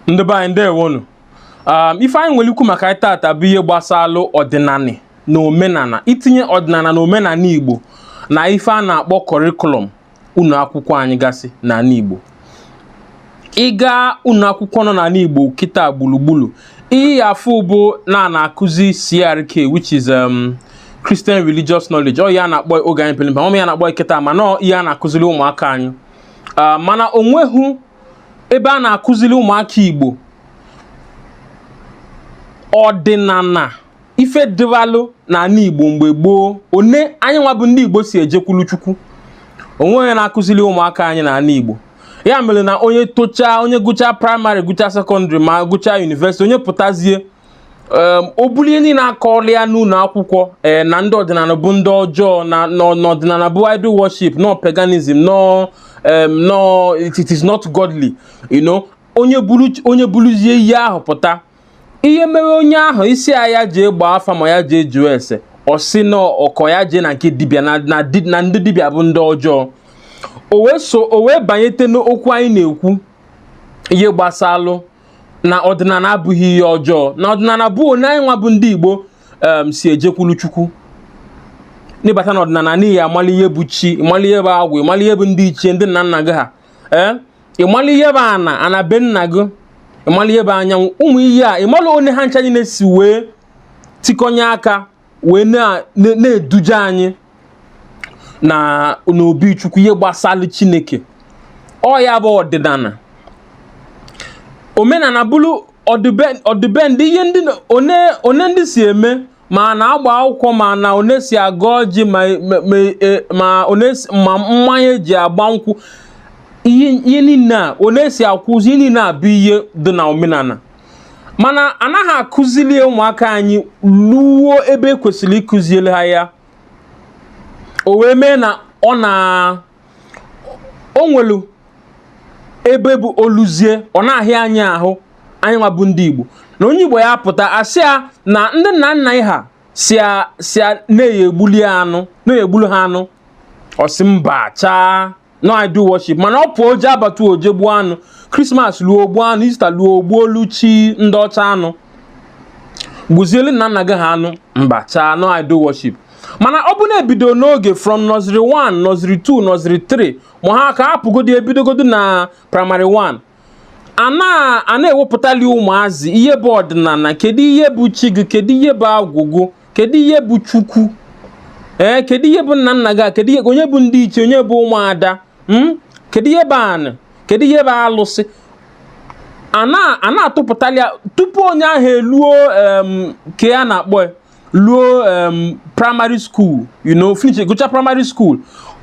ndị be anyị ndewonu um, ife anyị nwere ikwu maka ya tata bụ ihe gbasalụ ọdịnala na omenala itinye ọdịnala na omenala Igbo na ife a na-akpọ curriculum ụlọ akwụkwọ anyị gasị n'ala Igbo ị gaa ụlọ akwụkwọ nọ n'ala Igbo kịta gburugburu ị ya-afụ bụ na a na-akụzi CRK which is um, Christian religious knowledge ọ ya a na-akpọ oge anyị peli mpe ọma ya na-akpọ kịta mana ọ ihe a na-akụziri ụmụaka anyị ah, mana onweghị ebe a na-akụziri ụmụaka Igbo ọdịnala ife dịbalụ n'ala Igbo mgbe gboo one anyị nwa bụ ndị Igbo si ejekwulu Chukwu onweghị onye na-akụziri ụmụaka anyị n'ala Igbo ya mere na onye tochaa onye gụchaa primary gụchaa secondary ma gụchaa university onye pụtazie o bulu ihe ndị a na-akọrọ ya n'ụlọ akwụkwọ eh, na ndị ọdịnala bụ ndị ọjọọ na ọdịnala bụ idol worship na ọ paganism no no it is not godly you know onye buluzie ihe ahụ pụta ihe mere onye ahụ ị sị ya ya jee gbaa afa ma ya jee jụọ ese ọ sị na ọ ka ya jee na nke dibịa na ndị dibịa bụ ndị ọjọọ o wee banyete n'okwu anyị na-ekwu ihe gbasalụ na ọdịnala abụghị ihe ọjọọ na ọdịnala bụ one anyị nwa bụ ndị Igbo si ejekwulu Chukwu na ị bata na ọdịnala na ị ya-amalụ ihe bụ chi ị malụ ihe bụ agwụ ị malụ ihe bụ ndị ichie ndị nna nna gị ha ee ị malụ ihe bụ ana ana be nna gị ị malụ ihe bụ anyanwụ ụmụ ihe a ị malụ one ha ncha niile si wee tikọnye aka wee na-eduje anyị na n'obi chukwu ihe gbasalụ chineke ọ ya bụ ọdịnala omenala bụrụ ọdịbendị ihe ndị one ndị si eme ma a na-agba akwụkwọ ma na one e si agọ ọjị ma e, mmanya eji agba nkwụ ihe niile a one e si akwa ozu ihe niile a bụ ihe dị na omenala mana anaghị akụzili ụmụaka anyị luo ebe e kwesịrị ịkụzili ha ya o wee mee na ọ na o nwelu ebe bụ o luzie ọ na-ahịa anyị ahụ anyị nwa bụ ndị Igbo na onye Igbo ya-apụta a sị ya na ndị nna nna ha sị na a ya-egbulu anụ na a ya-egbulu ha anụ ọ sị mba chaa na ọ idol worship mana ọ pụọ o jee abattoir o jee gbuo anụ Christmas luo o gbuo anụ Easter luo o gbuolu chi ndị ọcha anụ gbuzielu nna nna gị ha anụ mba chaa na ọ idol worship mana ọ bụ na e bido n'oge from nursery 1 nursery 2 nursery 3 ma ha ka hapụgodi e bidogodu na primary 1 a na-ewepụtali ụmụazị ihe bụ ọdịnala kedu ihe bụ chi gị kedu ihe bụ agwụ gị kedu ihe bụ chukwu ee kedu ihe bụ nna nna gị kedu ihe onye bụ ndị ichie onye bụ ụmụada hmm? kedu ihe bụ anị kedu ihe bụ alụsị a na-atụpụtali tupu onye ahụ eluo ke a na-akpọ ya luo um, primary school you know finish gụcha primary school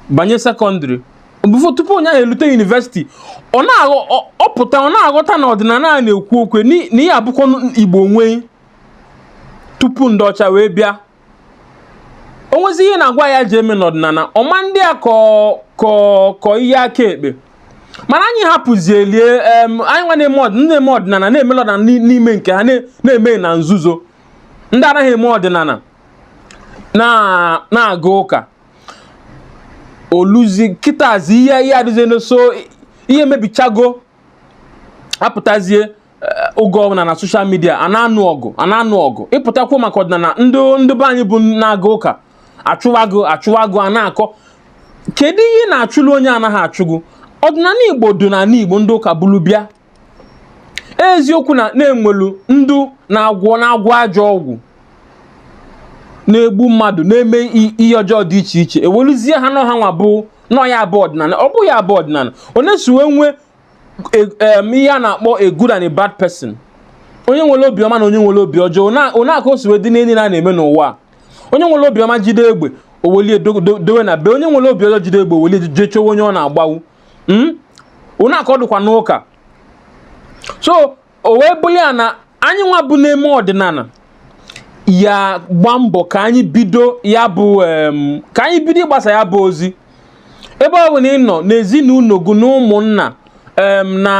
banye secondary before tupu onye ahụ elute university ọ na-apụta ọ na-aghọta na ọdịnala a na-ekwu okwu ya na ihe a bụkwa igbo nwee tupu ndị ọcha wee bịa o nwezi ihe ị na-agwa ya ji eme n'ọdịnala ọ ma ndị akọ ihe aka ekpe mana anyị hapụzielie anyị nwa na-eme ọdịnala na-eme ọdịnala n'ime nke ha na-eme na nzuzo ndị anaghị eme ọdịnala na-aga ụka o luzie kịtazi ihe ihe adịzie n'so ihe mebichago a pụtazie oge ọbụla na social media a na-anụ ọgụ a na-anụ ọgụ ị pụta kwuo maka ọdịnala ndị ndị be anyị bụ na-aga ụka achụwa gị achụwa gị a na-akọ kedu ihe ị na-achụlụ onye anaghị achụ gị ọdịnala igbo dị n'ala igbo ndị ụka buru bịa eziokwu na e nwelu ndị na-agwọ na-agwọ ajọ ọgwụ na-egbu mmadụ na-eme i- ihe ọjọọ dị iche iche e weluzie ha nọ ha nwa bụ nọ ya bụ ọdịnala ọ bụghị ya bụ ọdịnala otu e si wee nwee e- em, ihe a na-akpọ a good and a bad person onye nwere obi ọma na onye nwere obi ọjọọ na- otu a ka o si wee dị n'ihe niile a na-eme n'ụwa a. onye nwere obi ọma jide egbe o welie dowe na be onye nwere obi ọjọọ jide egbe o welie jee chọwa onye ọ na-agbawu hmm? otu a ka ọ dịkwa n'ụka so o wee bụrụ ya na anyị nwa bụ na-eme ọdịnala ya-agba mbọ ka anyị bido ya bụ ka anyị bido ịgbasa ya bụ ozi ebe ọ bụla ị nọ n'ezinụlọ gị na ụmụnna na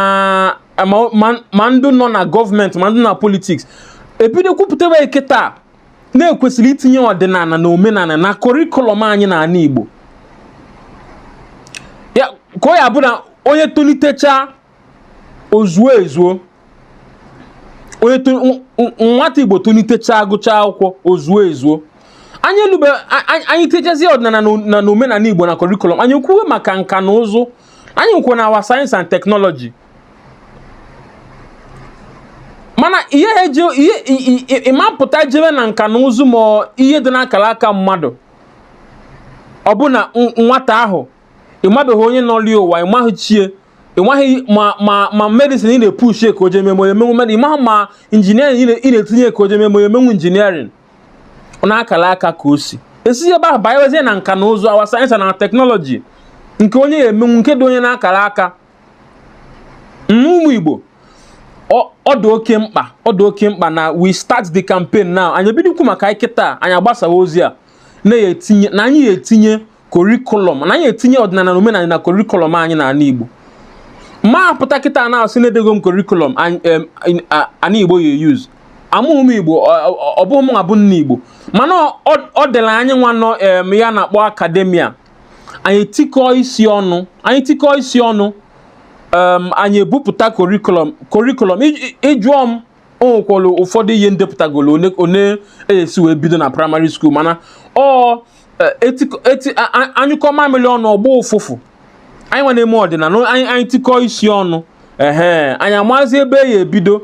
ma ndị nọ na gọọmenti ma ndị na politiks e bido kwupụtaba ya kịtaa na e kwesịrị itinye ọdịnala na omenala na kọrịkụlọm anyị na ala Igbo ka ọ ya-abụ na onye tolitecha ozuo ezuo onye nwata Igbo tolitechaa gụchaa akwụkwọ ozuo ezuo anyị elube anyị techazie ọdịnala na omenala Igbo na kọrịkụlọm anyị kwuwe maka nka na ụzụ anyị na-ekwu na our science and technology mana ihe ha eji ihe i- i- i- ị mapụta jebe na nka na ụzụ ma ọ- ihe dị n'akara aka mmadụ ọ bụ na n- nwata ahụ ị mabeghị onye nọli ụwa ị maghị chi e ị maghị ma ma ma medicine ị na-epushi ka o jee mee ma ọ ya-emenwu med ị maghị ma engineering ị na- ị na-etinye ka o jee mee ma ọ ya-emenwu engineering ọ n'akara aka ka o si esi ebe ahụ banyewezie na nka na ụzụ our science na technology nke onye ya-emenwu nke dị onye n'akara aka ụmụ Igbo ọ dị oke mkpa ọ dị oke mkpa na we start the campaign now anyị ebido kwu maka ya kịta anyị agbasawa ozi a na-etinye na anyị etinye curriculum na anyị etinye ọdịnala na omenala na curriculum anyị na ala Igbo ma apụta kịta na-asị na edego m curriculum ana Igbo ya e-use amụghị m Igbo ọ bụghị m bụ nna Igbo mana ọ dịla anyị nwa nọ ihe a na-akpọ academia anyị tikọọ isi ọnụ anyị tikọọ isi ọnụ anyị ebupụta curriculum curriculum ị jụọ m o nwekwara ụfọdụ ihe m depụtagolo one a ya-esi wee bido na primary school mana ọ e, a nyụkọọ mamịrị ọnụ ọ gbọọ ụfụfụ anyị nwa na-eme ọdịnala anyị tikọọ isi ọnụ ehe anyị amazi ebe a ya-ebido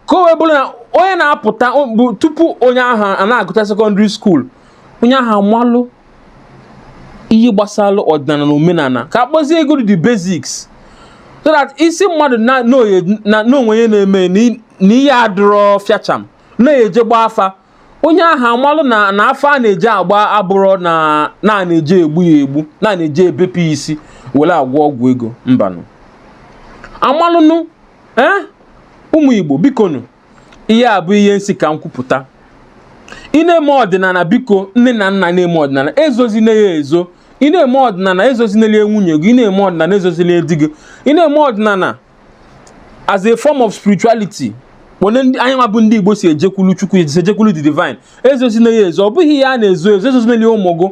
ka o wee bụrụ na onye na-apụta bụ tupu onye ahụ a na-agụta secondary school onye ahụ amalụ ihe gbasara ọdịnala na omenala ka a kpọzie ya godu the basics so that ị sị mmadụ na o nwe ihe na-eme na ihe adịrọ fiacham na e je gbaa afa onye ahụ amalụ na na afa a na-eje agba abụrọ na a na-eje egbu ya egbu na-eje ebepụ ya isi were agwọ ọgwụ ego mbanụ amalụnụ ee ụmụ Igbo bikonu ihe a bụ ihe m sị ka m kwupụta ị na-eme ọdịnala biko nne na nna na-eme ọdịnala ezozina ya ezo ị na-eme ọdịnala ezozinele nwunye gị ị na-eme ọdịnala ezozinele di gị ị na-eme ọdịnala as a form of spirituality one anyị nwa bụ ndị Igbo si ejekwulu Chukwu si ejekwulu the divine ezozina ya ezo ọ bụghị ihe a na-ezo ezo ezozinele ya ụmụ gị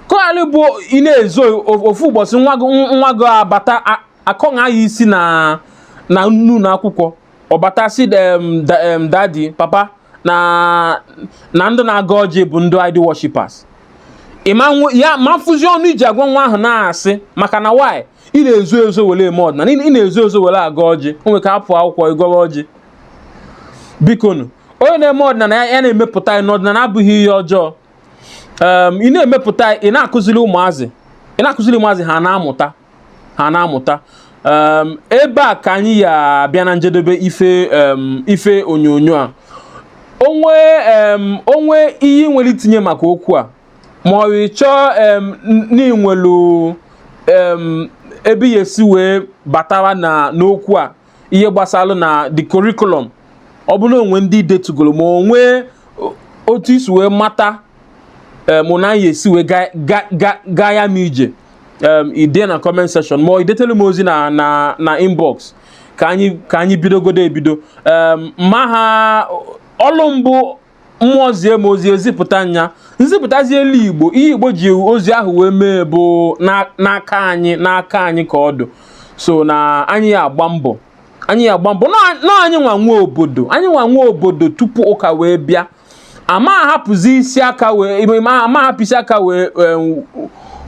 ka ọ ghalị ịbụ ị na-ezo ofu ụbọchị nwa gị abata a kọghaa ya isi na n'ụnọ akwụkwọ ọ bata sị daddy papa na na ndị na-agọ ọjị bụ ndị idol worshippers ị ma afụzi ọnụ ị ji agwa nwa ahụ na-asị maka na why ị na-ezo ezo were eme ọdịnala ị na-ezo ezo were agọ ọjị o nwere ka apụ akwụkwọ ị gọrọ ọjị bikonu onye na-eme ọdịnala ya na-emepụta ya na ọdịnala abụghị ihe ọjọọ ị na-emepụta ị na-akụziri ụmụazị ị na-akụziri ụmụazị ha na-amụta ha na-amụta um, ebe a ka anyị ya-abịa na njedebe ife um, ife onyonyo a o nwee um, o nwee ihe i nwere itinye maka okwu a ma ọ bụ ị chọọ um, n- na i nwelu um, ebe ị ya-esi wee batawa na n'okwu a ihe gbasara na the curriculum ọ bụrụ na o nwe ndị i detugoro ma o nwe o- otu i si wee mata um, na a ya-esi wee ga- ga- ga- gaa ya n'ije um, ide na comment section ma idetele m ozi na na na inbox ka anyị ka anyị bidogodo ebido um, maka ọlụ m bụ mmụọ zie m ozi ezipụta ya nzipụtazielu igbo ihe igbo ji ozi ahụ wee mee bụ na- n'aka anyị n'aka anyị ka ọ dụ so na anyị ya agba mbọ anyị ya agba mbọ na na anyị nwa nwe obodo anyị nwa nwe obodo tupu ụka wee bịa ama ahapụzi isi aka wee ama ahapụ isi aka wee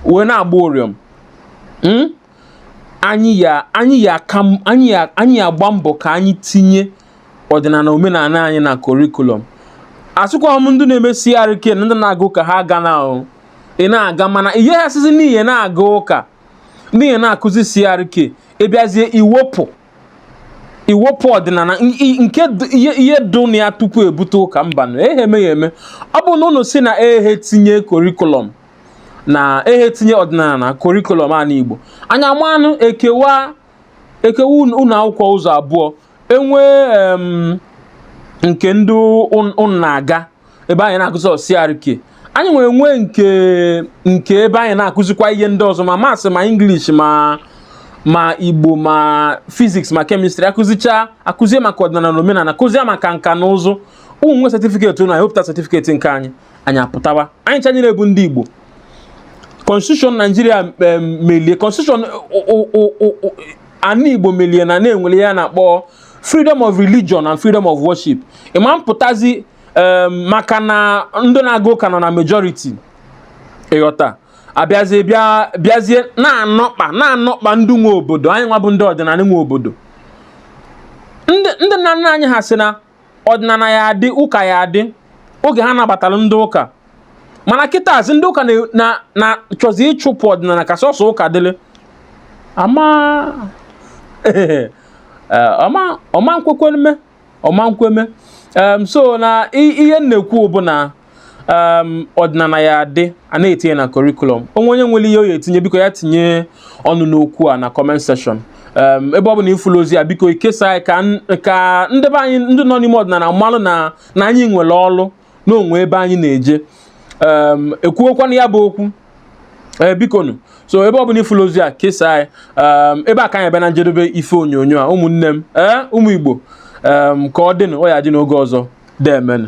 wee na-agba ụrịọm hmm? anyị ya anyị ya aka anyị ya anyị ya agba mbọ ka anyị tinye ọdịnala omenala anyị na curriculum asịkwa m ndị na-eme CRK na ndị na-aga ụka ha agana ahụ ị na-aga mana ihe ha sizi n'ihe na-aga ụka n'ihe na-akụzi CRK ịbịazie iwepụ iwepụ ọdịnala nke ihe dụ na ya tupu ebute ụka mbanụ ehe emeghị eme ọ bụ na ụnụ sị na ehe tinye curriculum na ehe tinye ọdịnala na curriculum ana Igbo anyị amanụ ekewa ekewa ụlọ akwụkwọ ụzọ abụọ enwee nke ndị ụnụ na-aga ebe anyị na-akụzi CRK anyị nwere nwe nke nke ebe anyị na-akụzikwa ihe ndị ọzọ ma maths ma English ma ma Igbo ma physics ma chemistry akụzicha akụzie maka ọdịnala na omenala kụzie maka nka na ụzụ ụnụ nwee certificate ụnụ anyị wepụta certificate nke anyị anyị apụtawa anyị chanyere bụ ndị Igbo constitution Nigeria melie constitution ana Igbo melie na enwere ihe a na-akpọ freedom of religion and freedom of worship ịma mpụtazi ee maka na ndị na-aga ụka nọ na majority ịghọta abịazie bịa bịazie na-anọkpa na-anọkpa ndị nwe obodo anyị nwa bụ ndị ọdịnala nwe obodo ndị ndị nna nna anyị ha sị na ọdịnala ya adị ụka ya adị oge ha nabatara ndị ụka mana kịtazi ndị ụka na- na- na-achọzi ịchụpụ ọdịnala ka sọsọ ụka dịrị ama ọ ma ọ ma nkwekwa mme ọ ma nkwe mme um, so na ihe m na-ekwu bụ na um, ọdịnala ya adị a na-etinye na curriculum onwe onye nwere ihe ọ ya etinye biko ya tinye ọnụ n'okwu a na comment section um, ebe ọ bụna ifulu ozi a biko ikesa ya ka n- ka ndị be anyị ndị nọ n'ime ọdịnala malụ na na anyị nwere ọlụ na o nwe ebe anyị na-eje ekwuokwanụ ya bụ okwu ee bikonu so ebe ọ bụla ifulu ozi a kesaa ya ebe a ka anyị bịa na njedebe ife onyonyo a ụmụnne m ee ụmụ igbo ka ọ dịnụ ọ ya adị n'oge ọzọ deemenụ